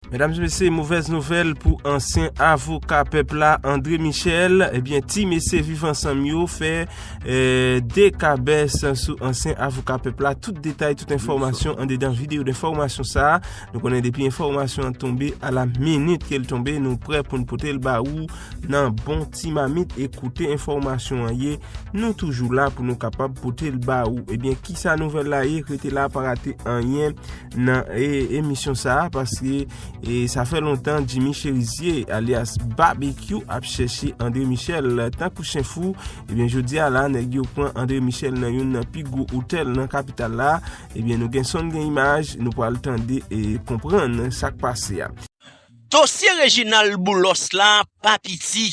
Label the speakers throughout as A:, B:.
A: Medam e mesye movèz nouvèl pou ansyen avoka pèp la André Michel ebyen ti mesye viv ansanm yo fè 2 kabès sou ansyen avoka pèp la tout detay tout enfòmasyon andedan video denfòmasyon sa nou konnen depi enfòmasyon an tonbe a la minit ke l tonbe nou prè pou n pote l ba ou nan bon ti mamit e koute enfòmasyon an ye nou toujou la pou nou kapab pote l ba ou ebyen kisa nouvèl la ye rete la pa rate anyen. nan emisyon sa a paske sa fè lontan Jimmy Cherizier alias Babekyou ap chèche André Michel tankou chen fou ebyen jodi a la nèg yo pran André Michel nan youn nan pi gwo otèl nan kapital la ebyen nou gen son gen imaj nou pral tande e konprann sak pase a. Dosye
B: Reginald Boulos la pa piti,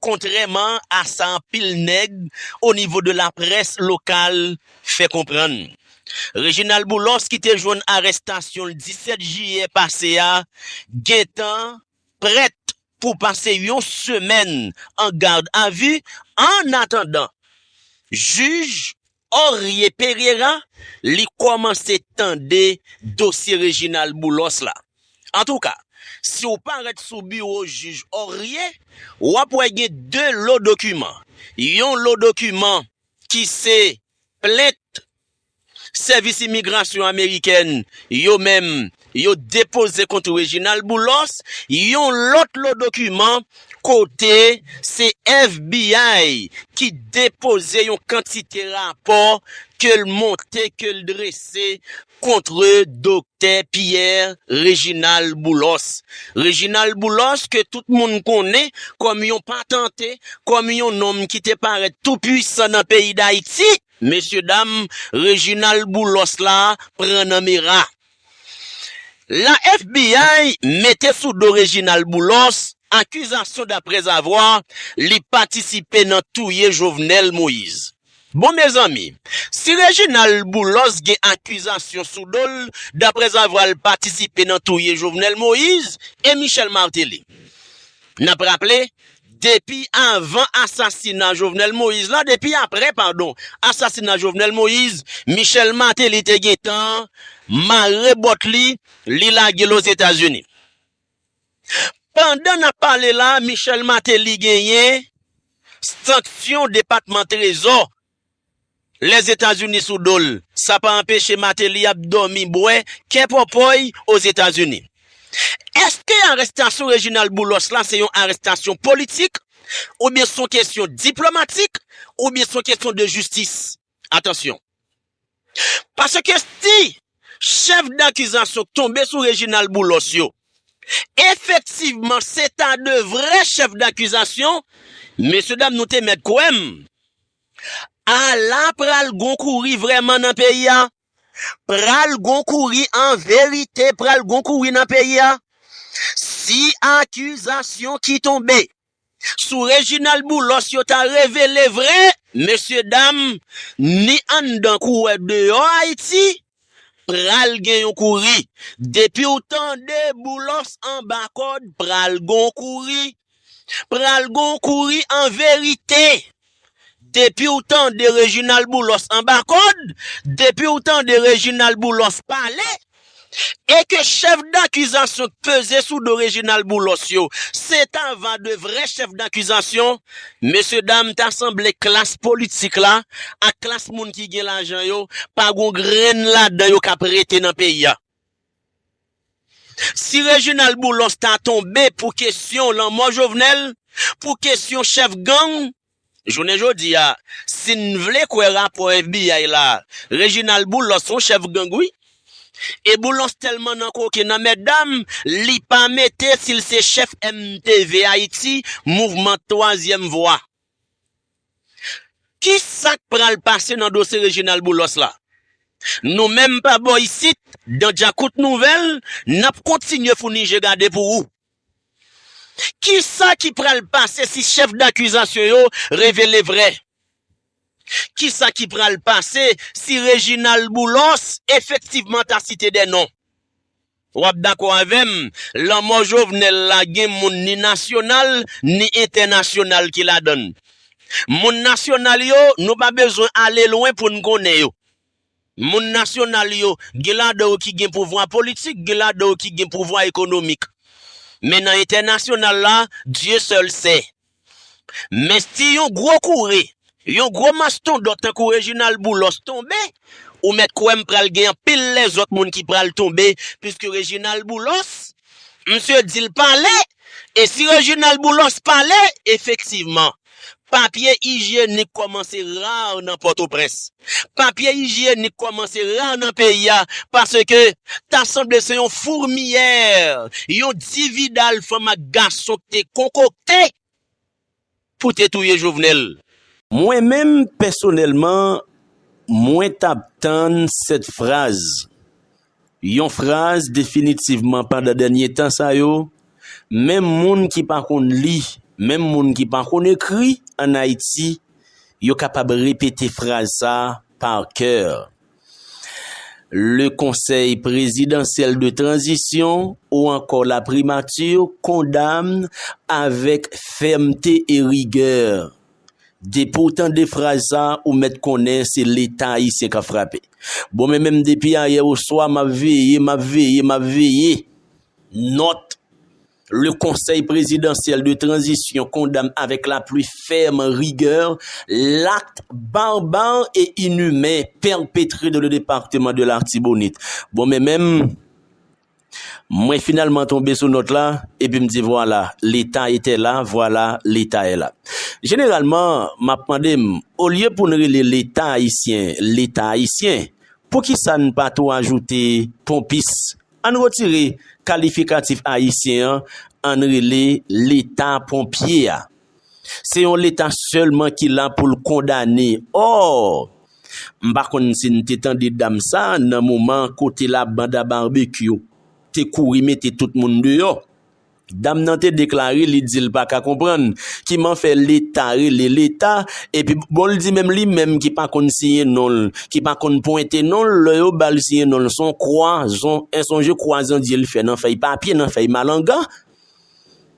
B: kontrèman a sa anpil nèg onivo de laprès lokal fè konprann Reginald Boulos ki te jwenn arestasyon l 17 jiyè pase a gentan prèt pou pase yon semèn an gad a vi annatandan jij Orie Pereira li kòmanse tande dosye Reginald Boulos la. Antouka, si w parèt sou biwo jij Orie, w ap wè gen 2 lo dokiman, yon lo dokiman ki se plent Sèvis Imigrasyon Amerikèn yo menm yo depoze kont Reginald Boulos, yon lòt lo dokiman kote se FBI ki depoze yon kantite rapò ke l monte, ke l drese kontre Doktè Pierre Reginald Boulos. Reginald Boulos ke tout moun konnen kòm yon patante, kòm yon nonm ki te parèt tou pwisan nan peyi Dayiti, mesye dam Reginald Boulos la pran nan mera. La FBI mete sou do Reginald Boulos akizasyon daprèzavwa li patisipe nan touye Jovenel Moise. Bon mezanmi, si Reginald Boulos gen akizasyon sou do l daprèzavwa l patisipe nan touye Jovenel Moise e Michel Martelly. N ap raple, depi avan asasina Jovenel Moise la, depi aprè padon asasina Jovenel Moise, Michel Martelly te gentan mare bòt li, li lage l Ozetazini. Pandan nap pale la Michel Martelly genyen sanksyon depatman trezò Lèzetazini sou dol. Sa pa anpeche Martelly ap dòmi bwè kè pòpòy Ozetazini. Eske arestasyon Reginald Boulos la se yon arestasyon politik oubyen son kesyon diplomatik oubyen son kesyon de jistis? Atansyon! Paske si chèf dakizasyon k tonbe sou Reginald Boulos yo efektivman se ta de vrè chèf dakizasyon, mesyedam nou te mèt kwè m, ala pral gon kouri vrèman nan peyi a! Pral gon kouri an verite pral gon kouri nan peyi a! Si akizasyon ki tonbe Sou Reginald Boulos yo ta revele vre mesye dam ni anndan kouwè deyò Ayiti pral gen yon kouri depiw tande Boulos anba kòd pral gon kouri pral gon kouri anverite. Depiw tande Reginald Boulos anba kod, depiw tande Reginald Boulos pale, e ke chef dakizasyon k peze sou do Reginald Boulos yo se ta va de vrè chef dakizasyon, mesye dam ta sanble klas politik la ak klas moun ki gen lajan yo pa gon grenn ladan yo kap rete nan peyi a. Si Reginald Boulos ta tonbe pou kesyon lanmò Jovenel, pou kesyon chèf gang, jounen jodi a, si n vle kwè rapò FBI la, Reginald Boulos son chèf gang wi. E Boulos tèlman nan koken nan mètdam, li pa mete si l se chèf MTV Ayiti, Mouvman Twazyèm Vwa. Ki sak pral pase nan dosye Reginald Boulos la? Nou menm pa bò isit Dan Djakout Nouvèl nap kontinye founi je gade pou ou. Ki sa ki pral pase si chèf dakizasyon yo revele vrè? Ki sa ki pral pase si Reginald Boulos efektivman ta site 2 non? Wap dakò avèm, lanmò Jovenel la gen moun ni nasyonal, ni entènasyonal ki ladann. Moun nasyonal yo, nou pa bezwen ale lwen poun konnen yo. Moun nasyonal yo, gen ladan yo ki gen pouvwa politik, gen ladan yo ki gen pouvwa ekonomik. Men nan entènasyonal la, Dieu seul sait. Men si yon gwo koure, yon gwo mastondont tankou Reginald Boulos tonbe, ou mèt kwè m pral gen anpil lèzòt moun ki pral tonbe piske Reginald Boulos, msye di l pale, e si Reginald Boulos pale, efektivman, papye ijyenik kòmanse rar nan Pòtoprens. Papye ijyenik kòmanse ra nan peyi a paske ta sanble se yon fourmiyè, yon dividal fanm ak gason k te konkokte pou te touye Jovenel. Mwen menm
C: pèsonèlman, mwen t ap tann 7 fraz Yon fraz definitivman pandan dènye tan sa yo, menm moun ki pa konn li, menm moun ki pa konn ekri an Ayiti, yo kapab repete fraz sa par coeur, Le Conseil Présidentiel de Transition ou ankò La Primature condamne avec fermeté et rigueur. Depi w tande fraz sa ou mèt konnen se leta ayisyen k ap frape. Bon men menm depi ayè oswa m ap veye, m ap veye, m ap veye. Nòt, Le Conseil Présidentiel de Transition condamne avec la plus ferme rigueur l'acte barbare et inhumain perpétré dans le département de l'Artibonite. Bon men menm. Mwen finalman tonbe sou nòt la, epi m di vwala, leta etè la, vwala, leta è la. Jeneralman, m ap mande m, olye pou n rele leta ayisyen, leta ayisyen, poukisa n pa tou ajoute ponpis? An n retire kalifikatif ayisyen an, an n rele leta ponpye a. Se yon leta sèlman ki la pou l kondane. Or, m pa konn si n te tande dam sa nan moman kote la banda barbecue te kouri mete tout moun deyò. Dam nan te deklare li di l pa ka konprann kiman fè leta rele leta epi bon l di menm li menm ki pa konn siyen non l, ki pa konn pwente non l lè yo ba l siyen non l s on kwazon, en sonje kwazandye l fè nan fèy papye, nan fèy malanga.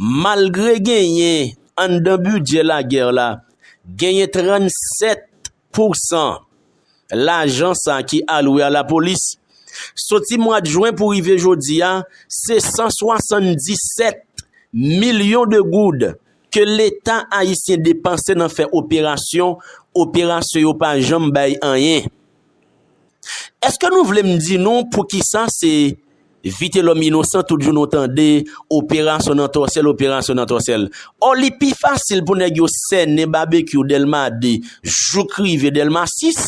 C: Malgre genyen anndan bidjè lagè la, genyen 37 pousan lajan sa ki alwe a lapolis. Soti mwad jwen pou rive jodi a, se 177 milyon de goud ke leta ayisyen depanse nan fè operasyon, operasyon yo pa janm bay anyen. Eske nou vle m di nou poukisa se Vitelòm Inosan tout jou nou tande operasyon nan tòsèl, operasyon nan tòsèl? Ò li pi fasil pou nèg yo sènen Babekyou Dèlma 2 jouk rive Dèlma 6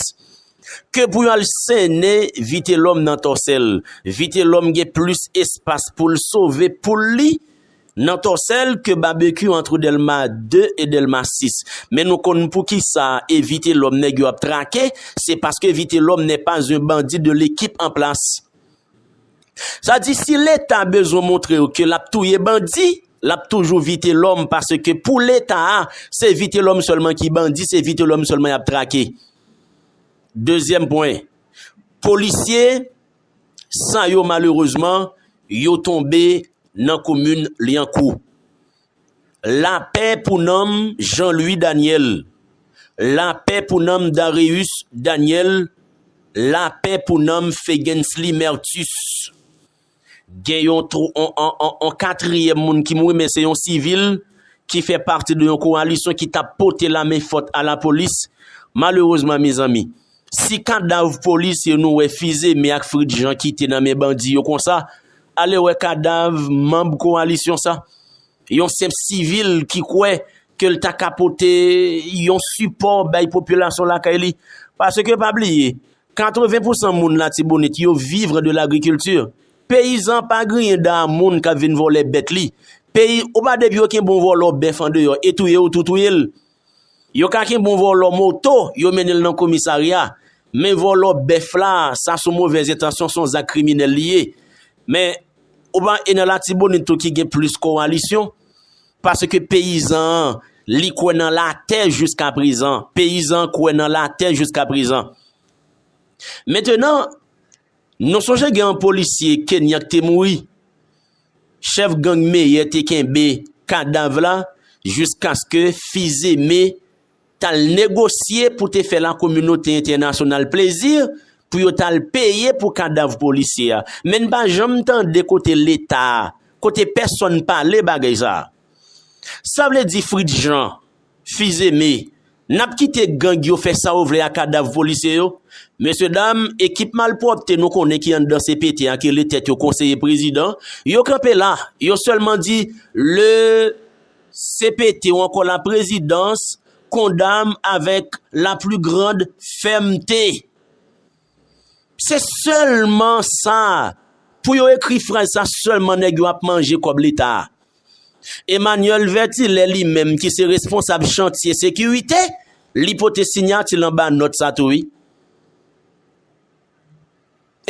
C: ke pou yo al sènen Vitelòm nan tòsèl. Vitelòm gen plis espas pou l sove poul li Nan Tòsèl ke Babekyou antre Dèlma 2 e Dèlma 6. Men nou konn poukisa e Vitelòm nèg yo ap trake, se paske Vitelòm nè pa zen bandi de lekip an plas. Sa di si Leta bezwen montre yo ke l ap touye bandi, l ap toujou Vitelòm paske pou Leta a, se Vitelòm sèlman ki bandi, se Vitelòm sèlman y ap trake. Dezyèm pwen, polisye. sa yo malerezman yo tonbe nan komin Lyankou. Lapè pou nanm Jean Louis Daniel, lapè pou nanm Dareus Daniel, lapè pou nanm Fegensly Mertus. Gen yon yon katriyèm moun ki mouri men se yon sivil ki fè pati de yon kowalisyon ki tap pote lamen fòt a lapolis malerezman mezanmi. Si kadav polisye nou wè Fize Me ak Fritz Jean kite nan men bandi yo konsa, ale wè kadav manb kowalisyon sa. Yon senp sivil ki kwè ke l ta ka pote yon sipò bay popilasyon lakay li. Paske pa bliye, 80 pousan moun Latibonit yo vivre de lagrikilti. Peyizan pa griyen dan a moun k ap vin vòlè bèt li. Peyi, ou pa depi oken bon vòlò bèf andeyò e touye ou tou touye l. Yo ka kenb on vòlò moto, yo mennen l nan komisarya, men vòlò bèf la, sa son movè zentansyon, son zak kriminèl li ye. Men, ou pa e nan Latibonit tou ki gen plis kowalisyon, paske peyizan an, li kwè nan latè jiskaprezan. Peyizan an kwè nan latè jiskaprezan. Mentenan. Nou sonje gen yon polisye Kenyan k te mouri? Chèf gang Meyè te kenbe kadav la jiskaske Fils-Aimé t al negosye pou te fè lakominote entènasyonal plezi pou yo t al peye pou kadav polisye a. Men n pa janm tande kote Leta, kote pèsonn pale bagay sa a. Sa vle di Fritz Jean, Fils-Aimé, Nap kite gang yo fè sa yo vle a kadav polisye yo? Mesye dam, ekip malpwòpte nou konnen ki anndan CPT a ki rele tèt yo konseye prezidan, yo kanpe la, yo sèlman di le CPT ou ankò la prezidans kondamn avèk la plu grand fèmte. Se selman sa Pou yo ekri fraz sa selman neg yo ap manje kob leta a. Emmanuel Vertilè li menm ki se responsab chantye sekirite li pote signatil anba not sa tou wi.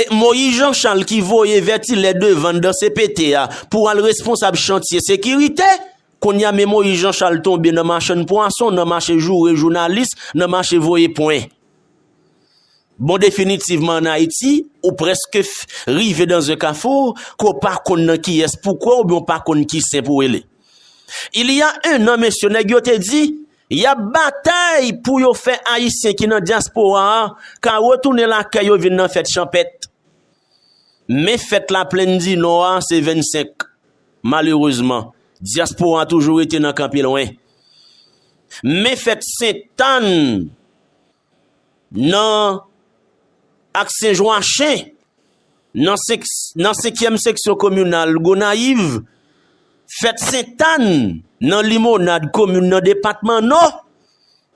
C: E Moïse Jean Charles ki voye Vertilè devan dan CPT a pou al responsab chantye sekirite, kounya me Moïse Jean Charles tonbe nan machann pwason, nan mache joure jounalis, nan mache voye pwen. Bon definitivman an Ayiti, ou preske rive dan ze kafou, ke w pa konn nan kiyès pou kwe oubyen w pa konn ki sen pou w ele. Il y a un an mesye nèg yo te di, y ap batay pou yo fè Ayisyen ki nan dyaspora a ka retounen lakay yo vin nan fèt chanpèt. Men fèt Laplenn di Nò a se 25. Malerezman, dyaspora toujou rete nan kanpe lwen. Men fèt Sentàn. Nan ak Senjwachen, nan senkyèm seksyon kominal Gonayiv, fèt Sentàn nan Limonad komin nan depatman Nò,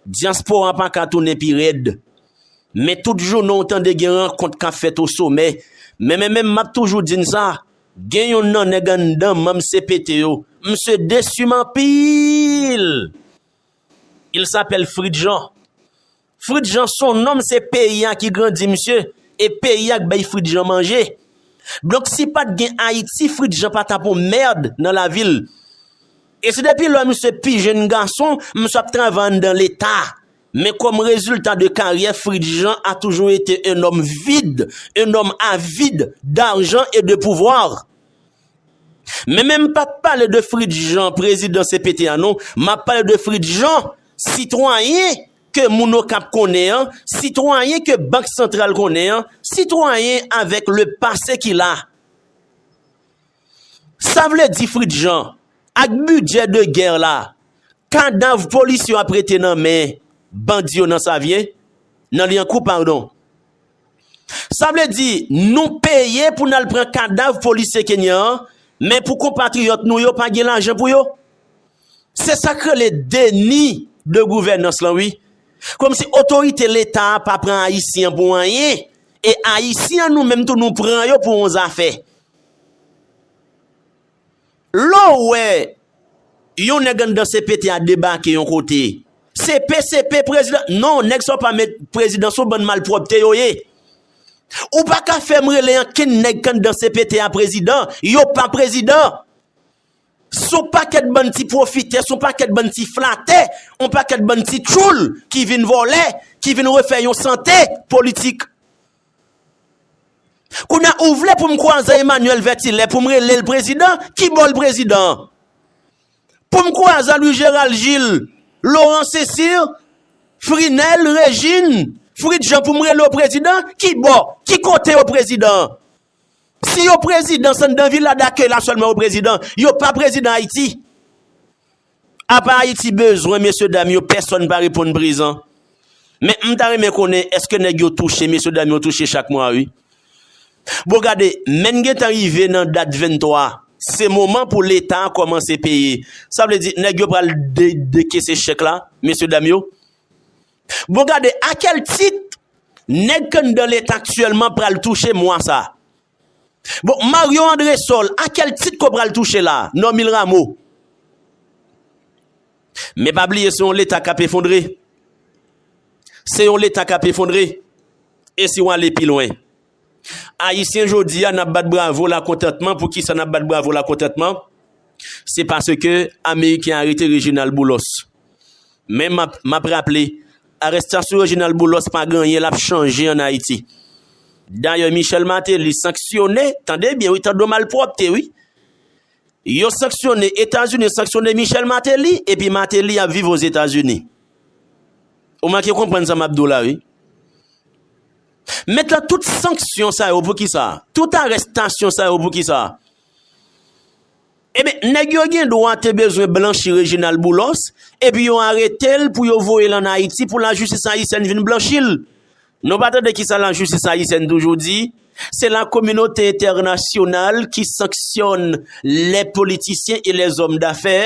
C: dyaspora pa ka tounen pi rèd. Men tout jounen w tande gen rankont k ap fèt o somè, men men menm m ap toujou di n sa, gen yonn nan nèg anndan manm cpt yo, msye desi m anpil! Il s'appelle Fritz Jean. Fritz Jean son nom se peyi a ki grandi misye e peyi a k bay Fritz Jean manje. Donk si pat gen Ayiti Fritz Jean pa tap on merd nan lavi l. E se depi lò misye pi jenn gason misye ap travay anndan leta. Men kòm rezilta de karyè Fritz Jean a toujou ete un homme vide, un homme avide d'argent et de pouvoir. Men men m pap pale de Fritz Jean prezidan cpt an non, m ap pale de Fritz Jean sitwayen ke moun Okap konnen an, sitwayen ke Bank Santral konnen an, sitwayen avèk le pase ki la. Sa vle di Fritz Jean, ak bidjè de gè la, kadav polisye yo ap rete nan men bandi yo nan Savyen, nan Lyankou padon. Sa vle di, nou peye pou n al pran kadav polisye Kenyan an, men pou konpatriyòt nou yo pa gen lajan pou yo? Se sa k rele deni de gouvènans lan wi. Kòmsi otorite Leta a pa pran Ayisyen pou anyen, e Ayisyen nou menm tou nou pran yo pou yon zafè. Lè w wè Yon nèg anndan CPT a debake Yon kote CP CP prezidan non nèg sa yo pa met prezidan sou ban malpwòpte yo ye ou pa ka fè m rele ankenn nèg k anndan CPT a prezidan yo pa prezidan s on pakèt bann ti pwofitè s on pakèt bann ti flatè on pakèt bann ti tchoul ki vin vòlè ki vin refè Yon sante politik Kounya ou vle pou m kwaze Emmanuel Vertilè pou m rele l prezidan? Ki bò l prezidan? Pou m kwaze a Louis Gérald Gilles, Laurent Cesir, Frinel, Regine, Fritz Jean pou m rele w prezidan? Ki bò, ki kote yo prezidan? Si yo prezidan san dan vila dakey la selman yo prezidan yo pa prezidan ayiti apa ayiti bezwen mesye dam yo pèsòn pa reponn prezan men m ta renmen konnen eske nèg yo touche mesye dam yo touche chak mwa wi bon gade menn gen tan rive nan dat 23 se moman pou leta komanse peye sa vle di nèg yo pral dekese chèk la mesye dam yo Bon gade a kèl tit nèg k anndan leta aktyèlman pral touche mwa sa. Bon Mario Andresol a kèl tit ke w pral touche la, Normil Rameau. Men pa bliye se yon leta k ap efondre. Se yon leta k ap efondre. E si w ale pi lwen. Ayisyen jodi a nap bat bravo lakontantman poukisa nap bat bravo lakontantman se paske ameriken arete Reginald Boulos men map raple arestasyon Reginald Boulos pa gen anyen lap chanje an Ayiti dayè Michel Martelly sanksyone tande byen wi tande malpwòpte wi yo sanksyone Etazini sanksyone Michel Martelly epi Martelly ap viv Ozetazini ou manke konprann sa map di w la wi. Mèt la tout sanksyon sa yo pou kisa? Tout arestasyon sa yo pou kisa? Eben, nèg yo gen dwa te bezwen blanchi Reginald Boulos, epi yo arete l pou yo voye l an Ayiti pou lajistis ayisyèn vin blanchi l. Nou pa tande kisa lajistis ayisyèn toujou di? Se la kominote entènasyonal ki sanksyòn lè politisyen e lèzòm dafè,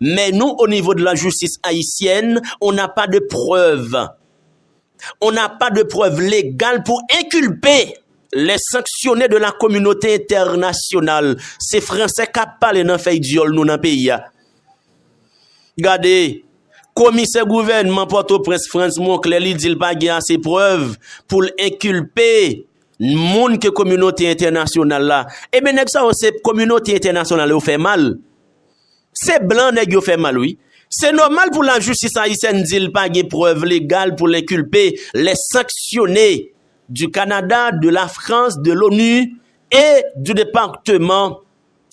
C: men nou onivo de lajistis ayisyèn, on n'a pas de preuves. on n'a pas de preuve légale pou enkilpe lè sanksyone de la kominote entènasyonal se fransè kap pale nan fèy dyòl nou nan peyi a gade komisè gouvènman pòtoprens frantz monklè li di l pa gen ase prèv pou l enkilpe moun ke kominote entènasyonal la e men nèg sa yo se kominote entènasyonal yo fè mal Se blan nèg yo fè mal wi. Se nòmal pou lajistis ayisyèn di l pa gen prèv legal pou l enkilpe lè sanksyone du Canada, de la France, de l'ONU et du Departement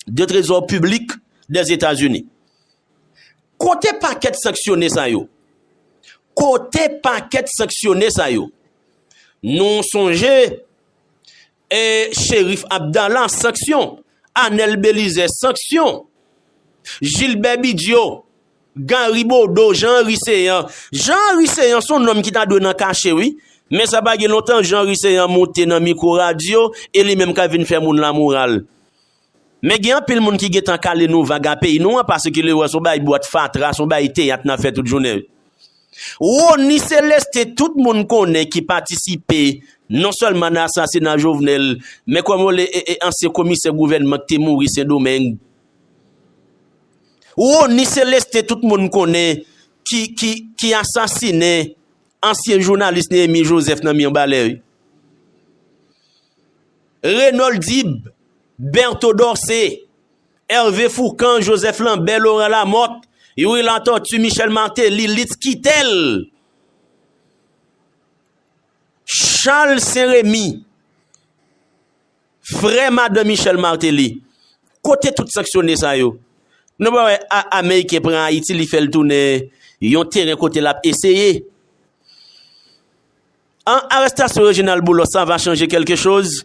C: de Trésor Public des États-Unis. Kote pakèt sanksyone sa yo? Kote pakèt sanksyone sa yo? Nou sonje. E Cherif Abdala sanksyon, Anel Belize sanksyon, Jilbè Bidyo, Gari Bodo, Jean Henry Céant. Jean Henry Céant son nonm ki ta dwe nan kache wi. Men sa pa gen lontan Jean Henry Céant monte nan mikwo radyo e li menm kap vin fè moun lamoral. Men gen anpil moun ki gentan kale nou vag a peyi nou an paske yo wè son bagay bwat fatra, son bagay teyat nan fè tout jounen. Rony Celestin tout moun konnen ki patisipe non sèlman nan asasina Jovenel men kòman w le e ansyen komisè gouvènman ki te mouri Sendomeng. Rony Celestin tout moun konnen ki ki ki asasinen ansyen jounalis Néhémie Joseph nan Mirbalais. Renold Dib, Bertho Dorcé, Hervé Fourcand, Joseph Lambert, Laurent Lamothe, Youri Latortue, Michel Martelly, Litz Quitel, Charles Saint Remy, frè madan Michel Martelly. Kote tout sanksyone sa yo? Nou pa wè Ameriken pran Ayiti li fè l tounen yon teren kote l ap eseye. An arestasyon Reginald Boulos an va chanje kelke choz?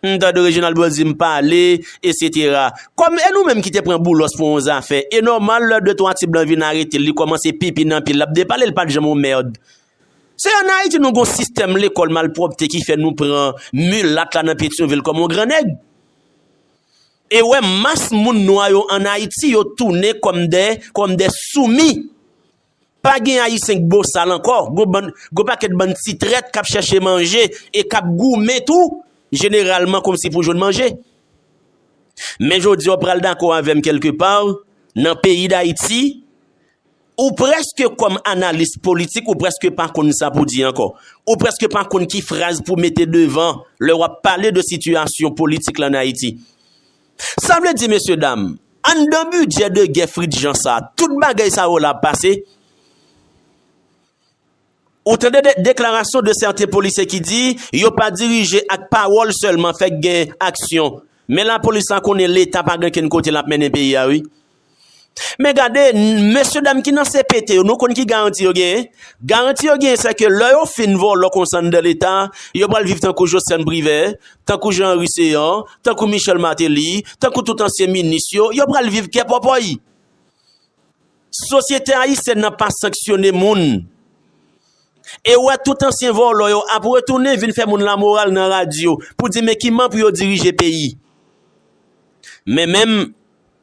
C: M tande Reginald Boulos di m pale, esetera. Kòm e nou menm ki te pran Boulos pou yon zafè, e nòmal lè de twa ti blan vin arete l, li kòmanse pipi nan pye l, l ap depale l pa t janm yon merd. Se an Ayiti nou gen yon sistèm lekòl malpwòpte ki fè nou pran milat la nan Petyonvil kòm yon gran nèg. E wè mas moun nwa yo an Ayiti yo tounen kòm de, kòm de soumi. Pa gen ayisyen k bosal ankò, gwo pakèt bann ti trèt k ap chèche manje e k ap goumen tou jeneralman kòmsi pou jwenn manje. Men jodi a w pral dakò avè m kèlke pa, nan peyi Dayiti, ou prèske kòm analis politik ou prèske pa konn sa pou di ankò. Ou prèske pa konn ki fraz pou mete devan lè w ap pale de sitiyasyon politik la an Ayiti. Sa vle di mesye dam, anndan bidjè de gè Fritz Jean sa, tout bagay sa yo la ap pase? Ou tande de deklarasyon de sèten polisye ki di, yo pa dirije ak pawòl sèlman fèk gen aksyon. Men lapolis la konnen leta pa gen kenn kote l ap mennen peyi a wi. Men gade, mesye dam ki nan CPT yo, nou konn ki garanti yo genyen? Garanti yo genyen se ke lè yo fin vòlò konsa anndan leta, yo pral viv tankou Joceanne Privert, tankou Jean Henry Céant, tankou Michel Martelly, tankou tout ansyen minis yo, yo pral viv kè pòpòy. Sosyete ayisyèn nan pa sanksyone moun. E ou wè tout ansyen vòlò yo ap retounen vin fè moun lamoral nan radyo pou di men kiman pou yo dirije peyi. Men menm.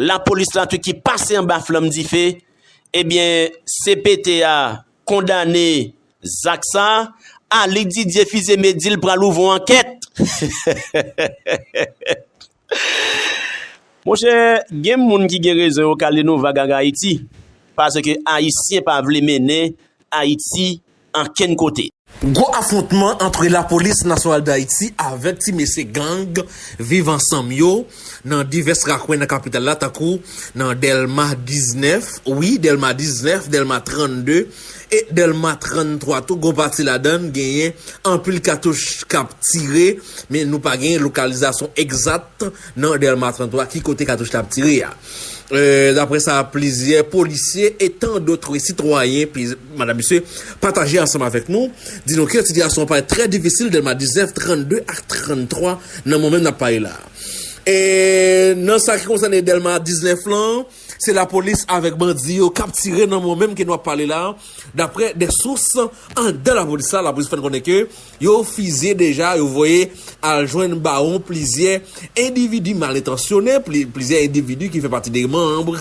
C: Lapolis la tou ki pase anba flanm dife, ebyen cpt a kondane zak sa, Aly Didier Fils-Aimé di l pral ouvon ankèt. Monchè gen moun ki gen rezon yo kale nou vag ak Ayiti, paske Ayisyen pa vle mennen Ayiti ankenn kote. Gwo afwontman
D: antre Lapolis Nasyonal Dayiti avèk ti mesye gang Viv Ansanm yo nan divès rakwen nan kapital la tankou nan Dèlma 19, wi Dèlma 19, Dèlma 32 e Dèlma 33 tou gwo pati ladann genyen anpil katouch kap tire men nou pa genyen lokalizasyon egzat nan Dèlma 33 ki kote katouch la ap tire a. Daprè sa plizyè polisye e tan dotre sitwayen Madan Misye pataje ansanm avèk nou, di nou ke sitiyasyon an parèt trè difisil Dèlma 19, 32 ak 33 nan momen n ap pale la. E nan sa ki konsène Dèlma 19 lan, se lapolis avèk bandi yo k ap tire nan momen ke nou ap pale la, daprè de sous andan lapolis la, lapolis fè n konnen ke. Yo fize deja, yo voye al jwenn bawon plizyè endividi mal entansyone, plizyè endividi ki fè pati de manb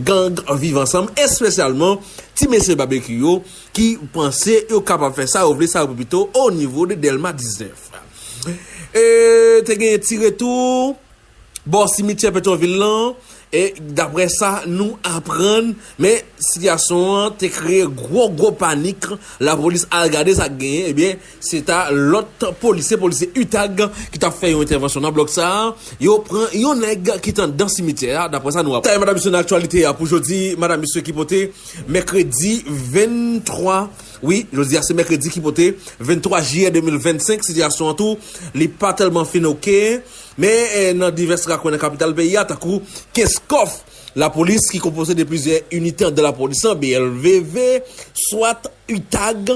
D: gang Viv Ansanm, espesyalman ti mesye Babekyou yo ki panse yo kapab fè sa yo vle, sa yo vle pito onivo de Dèlma 19. Te gen ti retou. bò simityè Petyonvil lan, e daprè sa nou aprann, men sitiyasyon an te kreye gwo gwo panik, lapolis al gade sa k genyen, ebyen se ta lòt polisye, polisye utag ki t ap fè yon entèvansyon nan blòk sa, yo pran yon nèg ki t anndan simityè a, daprè sa nou aprann. Detaye Madam Misye nan aktyalite a pou jodi, Madam Misye ki pote mèkredi 23, wi jodi a se mèkredi ki pote 23 jiyè 2025, sitiyasyon an tou li pa tèlman fin ok. Men nan divès rakwen nan kapital peyi a tankou Kenskòf, lapolis ki konpoze de plizyè inite andan lapolis lan, BLVV, swat, utag.